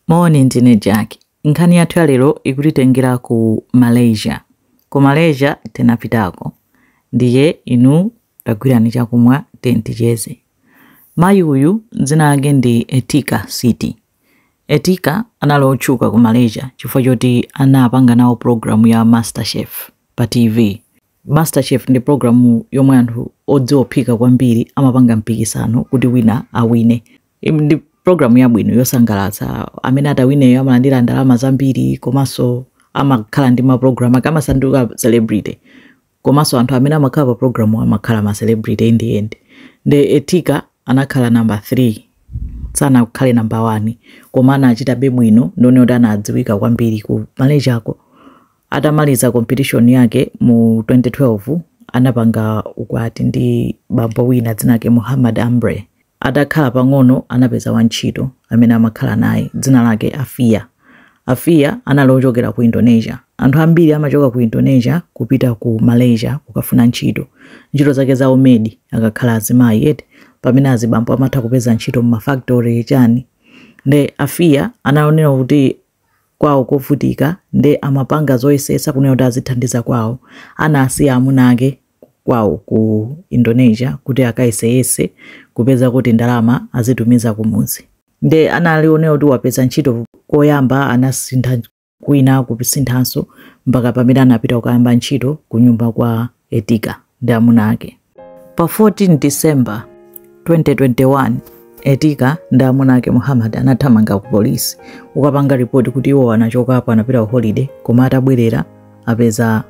Moni, ndine Jack. Nkhani yathu ya lero ikutitengera ku Malaysia. Ku Malaysia tinapitako. Ndiye inu tagwirani chakumwa tiyeni ticheze. Mayi uyu dzina lake ndi Etika Siti. Etika anali otchuka ku Malaysia chifukwa choti anapanga nawo pulogalamu ya MasterChef pa TV. MasterChef ndi pulogalamu yomwe anthu odziwa kuphika kwambiri amapanga mpikisano kuti wina awine. ndi programu yabwino yosangalatsa amene atawineyo amalandira ndalama zambiri komanso amakhala ndi mapulogalamu ake amasanduka celebrity komanso anthu amene amakhala pa programu amakhala ma celebrity in the end nde etika anakhala namba 3 sanakhale namba 1 koma anachitabe bwino ndiye kuti anadziwika kwambiri ku malaysia ko atamaliza competition yake mu 2012 anapanga ukwati ndi bambo wina dzina lake muhammad ambre Atakhala pang'ono anapeza wantchito amene amakhala naye, dzina lake Afiya. Afiya anali wochokera ku Indonesia. Anthu ambiri amachoka ku Indonesia kupita ku Malaysia kukafuna ntchito. Ntchito zake za umedi akakhala azimayi eti, pamene azibambo amatha kupeza ntchito m'mafakitore chani. Nde Afiya anaonera kuti kwawo kovutika nde amapanga zoyesetsa kunena kuti azithandiza kwawo anasiya amuna ake kwawo ku Indonesia kuti akayeseyese kupezako tindalama azitumiza kumudzi nde analionera kuti wapeza ntchito koyamba anasintha kwina kusinthanso mpaka pamene anapita kukayamba ntchito kunyumba kwa Etika ndi amuna ake. Pa 14 December 2021, Etika ndi amuna ake Muhammad anathamanga ku polisi kukapanga ripoti kuti iwo anachokapo anapita ku holiday koma atabwerera apeza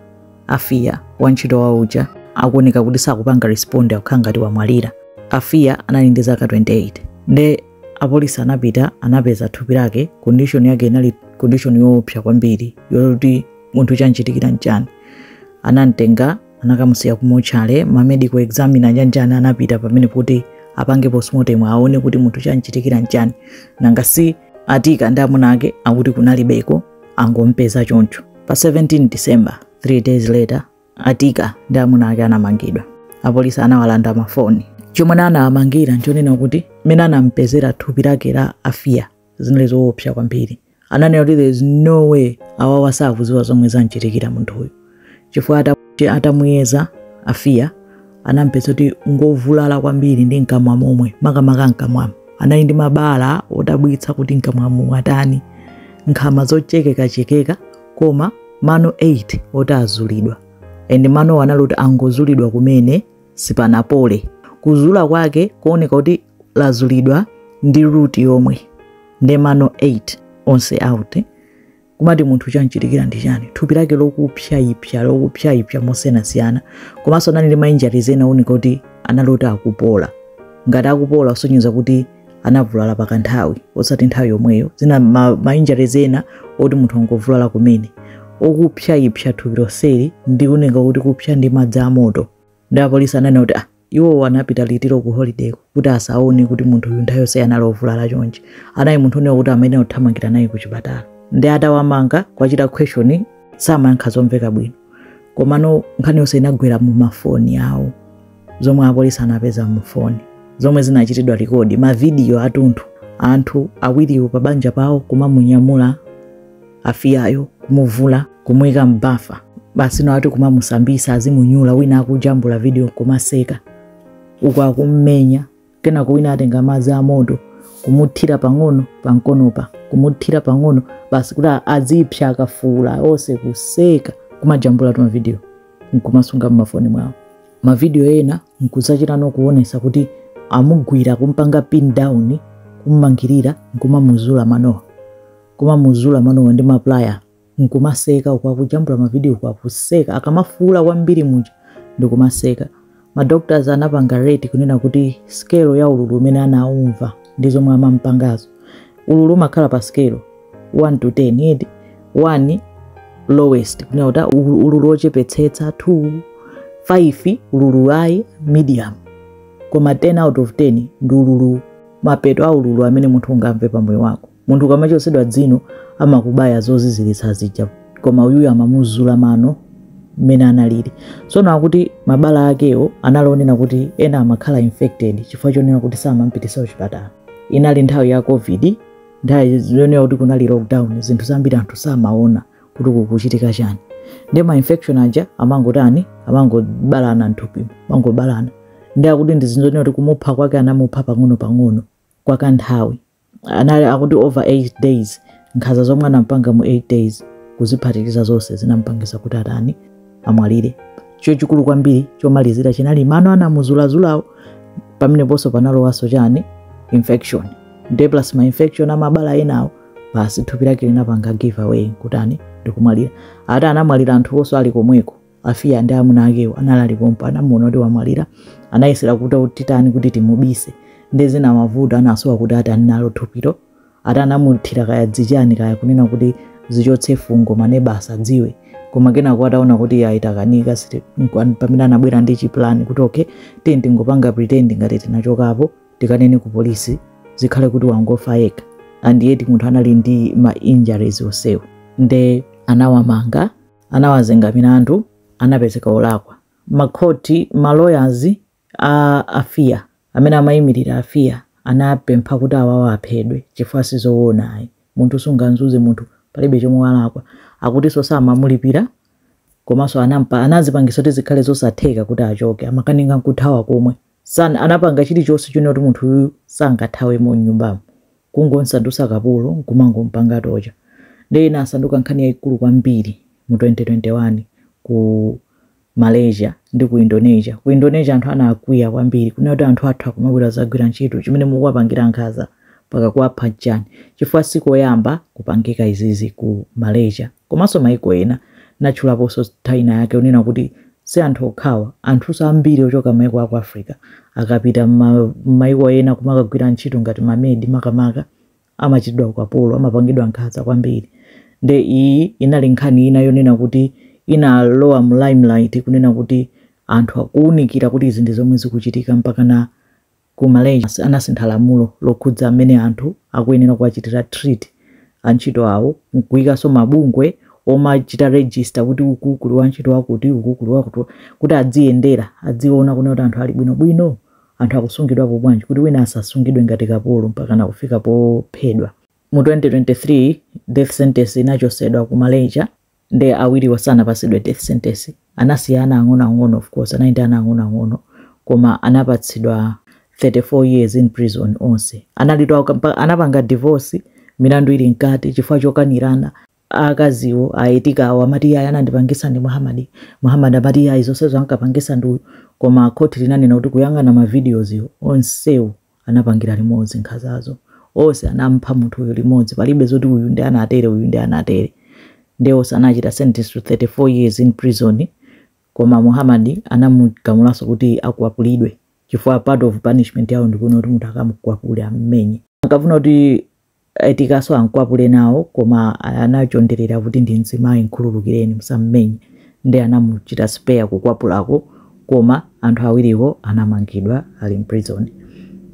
Afiya wantchito wawo uja akuoneka kuti sakupanga responde akukhala ngati wamwalira. Afiya anali ndi zaka 28 nde apolisi anapita anapeza thupi lake condition yake inali condition yoopsa kwambiri yoti munthu chanchitikira nchani anamtenga anakamusiya ku mochale ma medical examiner chanjani anapita pomwepo kuti apange postmortem aone kuti munthu chanchitikira nchani nanga si etika ndi amuna ake akuti kunalibeko angompeza choncho pa 17 december 3 days later etika ndi amuna ake anamangidwa apolisi anawalanda mafoni chomwe anawamangira nchonena kuti mmene anampezera thupi lake la afiya zinali zoopsa kwambiri ananena kuti there is no way awawa sakuziwa zomwe zamchitikira munthu uyu chifukwa atamuyeza afiya anampeza kuti ngovulala kwambiri ndi mkamwa momwe makamaka mkamwamo anali ndi mabala odabwitsa kuti mkamwamo mwatani nkhama zochekekachekeka koma mano 8 oti anazulidwa and manowo anali kuti angozulidwa kumene sipanapole kuzula kwake kuoneka kuti lazulidwa ndi root yomwe nde mano 8 onse out kumati munthu chamchitikira ndi chani thupi lake lokupsyaipsya lokupsyaipsya mosiyanasiyana komanso anali ndi ma injuries ena ooneka kuti anali oti akupola ngati akupola kusonyeza kuti anavulala pa kanthawi osati nthawi yomweyo zina ma, ma injuries ena oti munthu angovulala kumene okupsyaipsya thupi lonseli ndi kunena kuti kupsya ndi madzi amoto ndi apolisi ananena kuti ah, iwowo anapita liti ku holiday kuti asaone kuti munthu uyu nthawi yonse anali ovulala chonchi anali munthu onena kuti amayenera kuthamangira naye ku chipatala ndi atawamanga kuwachita question samayankha zomveka bwino komano nkhani yonse inagwera mu mafoni awo zomwe apolisi anapeza mu foni zomwe zinachitidwa rekodi mavidiyo atunthu anthu awiriwo pa banja pawo kumamunyamula afiyayo kumuvula kumuyika m'bafa basi nawo ati kumamusambisa azimunyula wina akujambula vidiyo nkumaseka uku akummenya kenako wina atenga madzi amoto kumuthira pang'ono pamkonopa kumuthira pang'ono basi kuti azipsya akafuula onse kuseka kumajambulatu mavidiyo nkumasunga mmafoni mwawo mavidiyo ena nkuzachitano kuonesa kuti amugwira kumpanga pin down kummangirira nkumamuzula manowa kumamuzula manowa ndi maplaya nkumaseka uku akujambula mavidiyo uku akuseka akamafuula kwambiri muja ndikumaseka madoctors anapanga rate kunena kuti skelo ya ululu umene anaumva ndi zomwe amampangazo ululu umakhala pa skelo 1 to 10 yedi 1 lowest kunena kuti ah, ulu- ululu ochepetsetsa 2 5 ululu wa medium koma 10 out of 10 ndi ululu mapeto a ululu amene munthu ungamve pa moyo wako munthu ukamachotsedwa dzino amakubaya zoziziritsa zija koma uyuyu amamuzula mano mmene analili tsono akuti mabala akewo anali onena kuti ena amakhala infected chifukwa chonena kuti samampitisa kuchipatala inali nthawi ya covid nthawi zonena kuti kunali lockdown zinthu zambiri anthu samaona kuti kukuchitika chani ndi ma infection aja amangotani amangobalana mthupi mangobalana ndi akuti ndi zinthu zonena kuti kumupha kwake anamupha pang'ono pang'ono kwa kanthawi anali akuti over 8 days nkhaza zomwe anampanga mu 8 days kuziphatikiza zonse zinampangisa kuti atani amwalire chomwe chikulu kwambiri chomalizira chinali mano anamuzulazulawo pameneponso panalowanso chani infection nde plus ma infection amabala enawo basi thupi lake linapanga giveaway kutani ndikumwalira ati anamwalira anthu onse ali komweko afiya ndi amuna akewo anali pompo anamuona kuti wamwalira anayesera kuti titani kuti timubise ndi zina mavuto anasowa kuti atani nalo thupilo ati anamuthira kaya dzichani kaya kunena kuti zichotse fungo ma neighbours asadziwe koma kenako ataona kuti iyayi zakanika siti- nkwa- pamene anabwera ndi chipulani kuti okay tiye tingopanga pretend ngati tinachokapo tikanene ku polisi zikhale kuti wangofa yekha and yet munthu anali ndi ma injuries onsewo nde anawamanga anawazenga milandu anapezeka olakwa makhoti ma lawyers a afia amene amayimirira afia anapempha kuti awawa aphedwe chifukwa sizoona ayi munthu sunganzuze munthu palibe chomwe walakwa akutinso samamulipira komanso anampa anazipangisa kuti zikhale zosatheka kuti achoke amakanika nkuthawa komwe San anapanga chilichonse chonena kuti munthu uyu sangathawemo m'nyumbamo. Kungomsandusa kapolo nkumangompanga torture. Ndiye inasanduka nkhani yaikulu kwambiri mu 2021 ku Malaysia ndi ku Indonesia. Ku Indonesia anthu anakwiya kwambiri kunena kuti anthu athu akumabwera kudzagwira ntchito chimene mukuwapangira nkhaza. mpaka kuwapha nchani chifukwa sikoyamba kupangika izizi ku Malaysia komanso maiko ena natchulaposo nthawi ina yake kunena kuti si anthu okhawa anthuso ambiri ochoka maiko aku Africa akapita mma maiko ena kumakagwira ntchito ngati ma maid makamaka amachitidwa ukapolo amapangidwa nkhaza kwambiri nde iyi inali nkhani ina yonena kuti inalowa mu limelight kuona kuti anthu akuunikira kuti izi ndi zomwe zikuchitika mpakana Ku Malaysia anasintha lamulo lokhudza mmene anthu akuyenera kuwachitira treat antchito awo n'kuikanso mabungwe omachita register kuti uku kuli wantchito wakuti, uku kuli wakuti, kuti adziyendera, adziona kunena kuti anthu ali bwinobwino, anthu akusungidwapo bwanji, kuti wina asasungidwe ngati kapolo mpakana kufika pophedwa. Mu 2023, death sentence inachotsedwa ku Malaysia. nde awiriwa sanapasidwe death sentence anasiya ana ang'ono ang'ono of course anali ndi ana ang'ono ang'ono koma anapatsidwa 34 years in prison onse analitu akampa- anapanga divorce milandu ili mkati chifukwa chokanirana akaziwo a Etika awo amati iyayi anandipangisa ndi Muhammad Muhammad amati iyayi zonsezo ankapangisa ndi uyu koma khoti linanena kuti kuyang'ana ma videos wo onsewo anapangira limodzi nkhazazo onse anampha munthu uyu limodzi palibe zoti uyu ndi anatere uyu ndi anatere nde onse anachita sentence to 34 years in prison koma muhammad anamugamulanso kuti akwapulidwe chifukwa part of punishment yawo ndikuona kuti munthu akamukwapule ammenye ankafuna kuti Etikaso ankwapule nawo koma anachondelela kuti ndi mzimayi nkhululukileni musammenye nde anamuchita spare kukwapulako koma anthu awiriwo anamangidwa ali mprison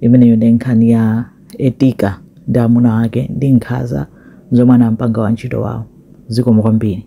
imeneyo ndi nkhani ya Etika ndi amuna ake ndi nkhaza zomwe anampanga wantchito wawo zikomo kwambiri.